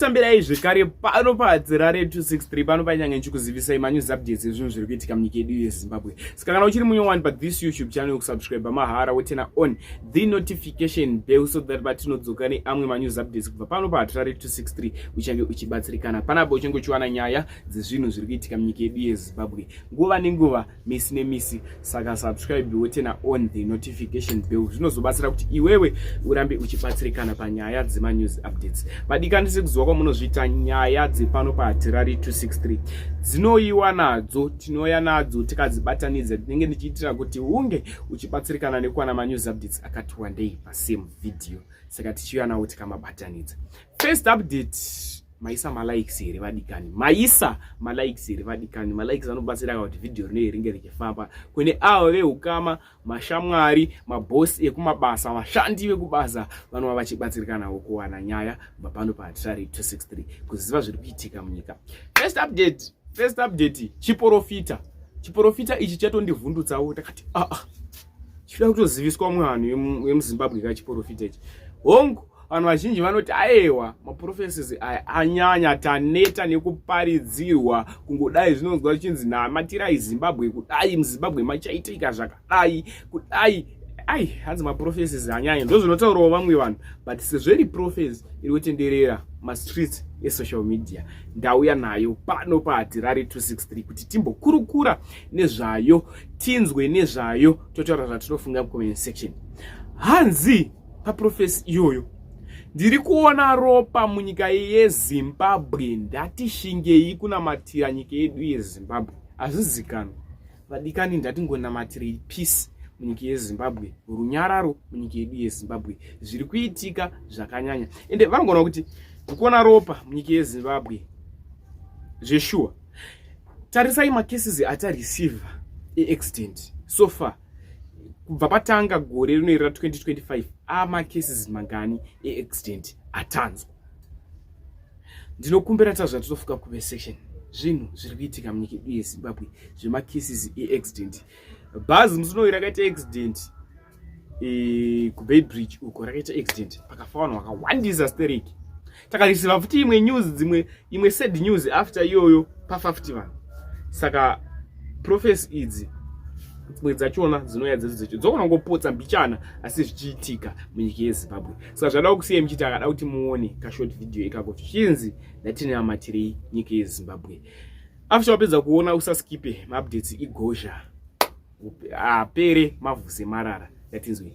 tambirai zvekare pano padzirare 263 pano painyange ndichikuzivisai manews updates ezvinhu zviri kuitika munyika yedu yezimbabwe saka kana uchiri munyowani pa this youtube channel kusubscribe mahara wotena on the notification bell so that patinodzoka neamwe manews updates kubva pano patirare 263 uchange uchibatsirikana panapa uchange uchiwana nyaya dzezvinhu zviri kuitika munyika yedu yezimbabwe nguva nenguva misi nemisi saka subscribe wotena on the notification bell zvinozobatsira kuti iwewe urambe uchibatsirikana panyaya dzemanews updates vadikani sekuziva kwamunozviita nyaya dzepano pahatirari 263 dzinoyiwa nadzo tinouya nadzo tikadzibatanidza tinenge ndichiitira kuti unge uchibatsirikana nekuwana manews updates akati wandei pasame video saka tichiuya nawo tikamabatanidza first update maisa malikes here vadikani maisa malikes here vadikani malikes anobatsira kuti vhidhiyo rinei ringe richifamba kune avo veukama mashamwari mabhosi ekumabasa vashandi vekubasa vanova vachibatsirikanawo kuwana nyaya kubva pano pahatirari 263 kuziva zviri kuitika munyika first update first update chiporofita chiporofita ichi chatondivhundutsawo takati aa ah, ah. chikuda kutoziviswa mwanhu wemuzimbabwe kachiporofita ichi hongu vanhu vazhinji vanoti aewa maprofeses aya anyanya taneta nekuparidzirwa kungodai zvinonzwa zvichinzi namatirai zimbabwe kudai muzimbabwe machaitika zvakadai kudai ai hanzi maprofeses anyanya ndo zvinotaurawo vamwe vanhu but sezveri profes iri kutenderera mastreets esocial media ndauya nayo pano pahatirari 263 kuti timbokurukura nezvayo tinzwe nezvayo totaura zvatinofunga mucomment section hanzi paprofesi iyoyo ndiri kuona ropa munyika yezimbabwe ndatishingei kunamatira nyika yedu yezimbabwe hazvizikanwa vadikani ndatingonamatirei peace munyika yezimbabwe runyararo munyika yedu yezimbabwe zviri kuitika zvakanyanya ende vanogona kuti ndikuona ropa munyika yezimbabwe zveshuwa tarisai macases atareceiva eaccident so far kubva patanga gore rino iri ra 2025 amacases mangani eaccident atanzwa ndinokumbira tazva titofuka kuve section zvinhu zviri kuitika munyika yedu yezimbabwe zvemacases eaccident bhazi musi unoyi rakaita accident e, kubaybridge uko rakaita accident pakafa vanhu vakawandisa stereki takarisiva futi imwe news dzimwe imwe sad news after iyoyo pafafti vanhu saka profesi idzi dzimwe dzachona dzinouya dzedu dzecho dzogona kungopotsa mbichana asi zvichiitika munyika yezimbabwe saka zvada kusiya muchiti akada kuti muone kashort video ikako zvichinzi ndatine amatirei nyika yezimbabwe after wapedza kuona usaskipe maupdates igozha apere mavhuse marara yatinzwei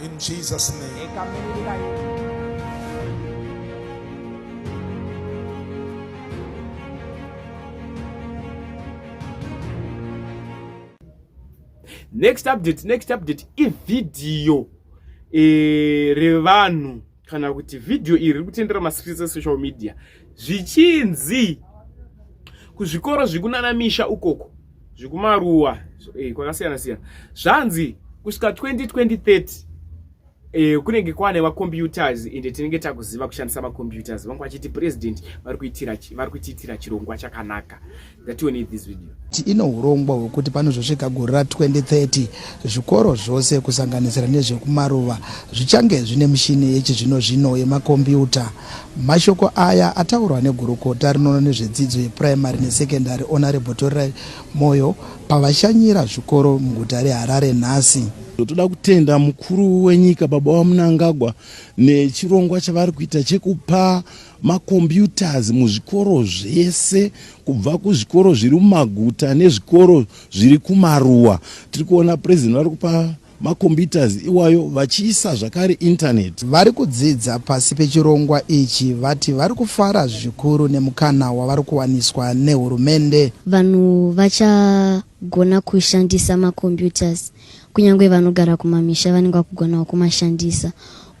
In Jesus name. Next update, next update ividhiyo e, eh, revanhu kana kuti vhidhiyo iri riri kutendera mascreens esocial media zvichinzi kuzvikoro zviri kunana misha ukoko zviri kumaruwa eh, kwakasiyana siyana zvanzi kusvika 202030 Eh, kunenge kwane macomputers ende tinenge takuziva kushandisa macomputers vangu vachiti president vari kuitira chirongwa chakanaka that you need this video ino urongwa hwekuti panozosvika gore ra 2030 zvikoro zvose kusanganisira nezvekumaruva zvichange zvine mishini yechizvino zvino yemakombiyuta mashoko aya ataurwa negurukota rinoona nezvedzidzo yepuraimary nesekendary honorable torirai moyo pavashanyira zvikoro muguta reharare nhasi toda kutenda mukuru wenyika baba vamunangagwa nechirongwa chavari kuita chekupa macomputers muzvikoro zvese kubva kuzvikoro zviri mumaguta nezvikoro zviri kumaruwa tiri kuona president vari kupa macomputers iwayo vachiisa zvakare internet vari kudzidza pasi pechirongwa ichi vati vari kufara zvikuru nemukana wavari kuwaniswa nehurumende vanhu vachagona kushandisa macomputers kunyange vanogara kumamisha vanenge vakugonawo kumashandisa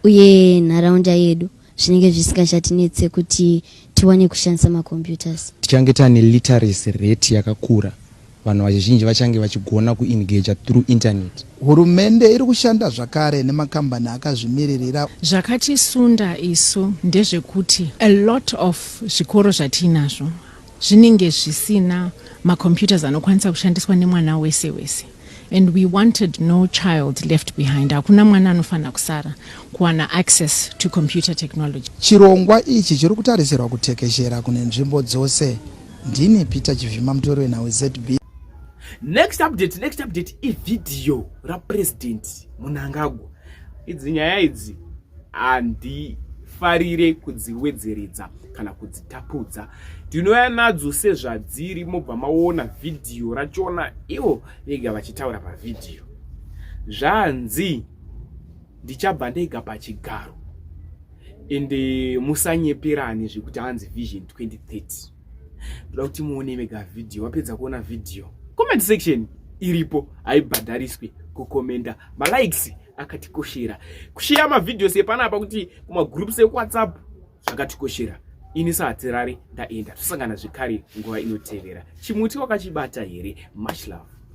uye nharaunda yedu zvinenge zvisingachatinetse kuti tiwane kushandisa macomputers tichange tane literacy rate yakakura vanhu vazhinji vachange vachigona kuengaja through internet hurumende iri kushanda zvakare nemakambani akazvimiririra zvakatisunda isu ndezvekuti a lot of zvikoro zvatiinazvo zvinenge zvisina macomputers anokwanisa kushandiswa nemwana wese wese and we wanted no child left behind hakuna mwana anofanira kusara kuwana access to computer technology chirongwa ichi chiri kutarisirwa kutekeshera kune nzvimbo dzose ndini peter chivhima mutori wenhau zb next update next update ivhidhiyo rapresident munangagwa idzi nyaya idzi handifarire kudziwedzeredza kana kudzitapudza ndinouya nadzo sezvadziri mobva maona vhidhiyo rachona ivo vega vachitaura pavhidhiyo zvanzi ndichabva ndega pachigaro ende musanyeperani zvekuti hanzi vision 2030 ndoda kuti muone mega video wapedza kuona video comment section iripo haibhadhariswi kukomenda malikes akatikoshera kusheya mavideos epanapa kuti kumagroups ekuwhatsapp zvakatikoshera ini sahatirari ndaenda tosangana zvekare nguva inotevera chimuti wakachibata here much love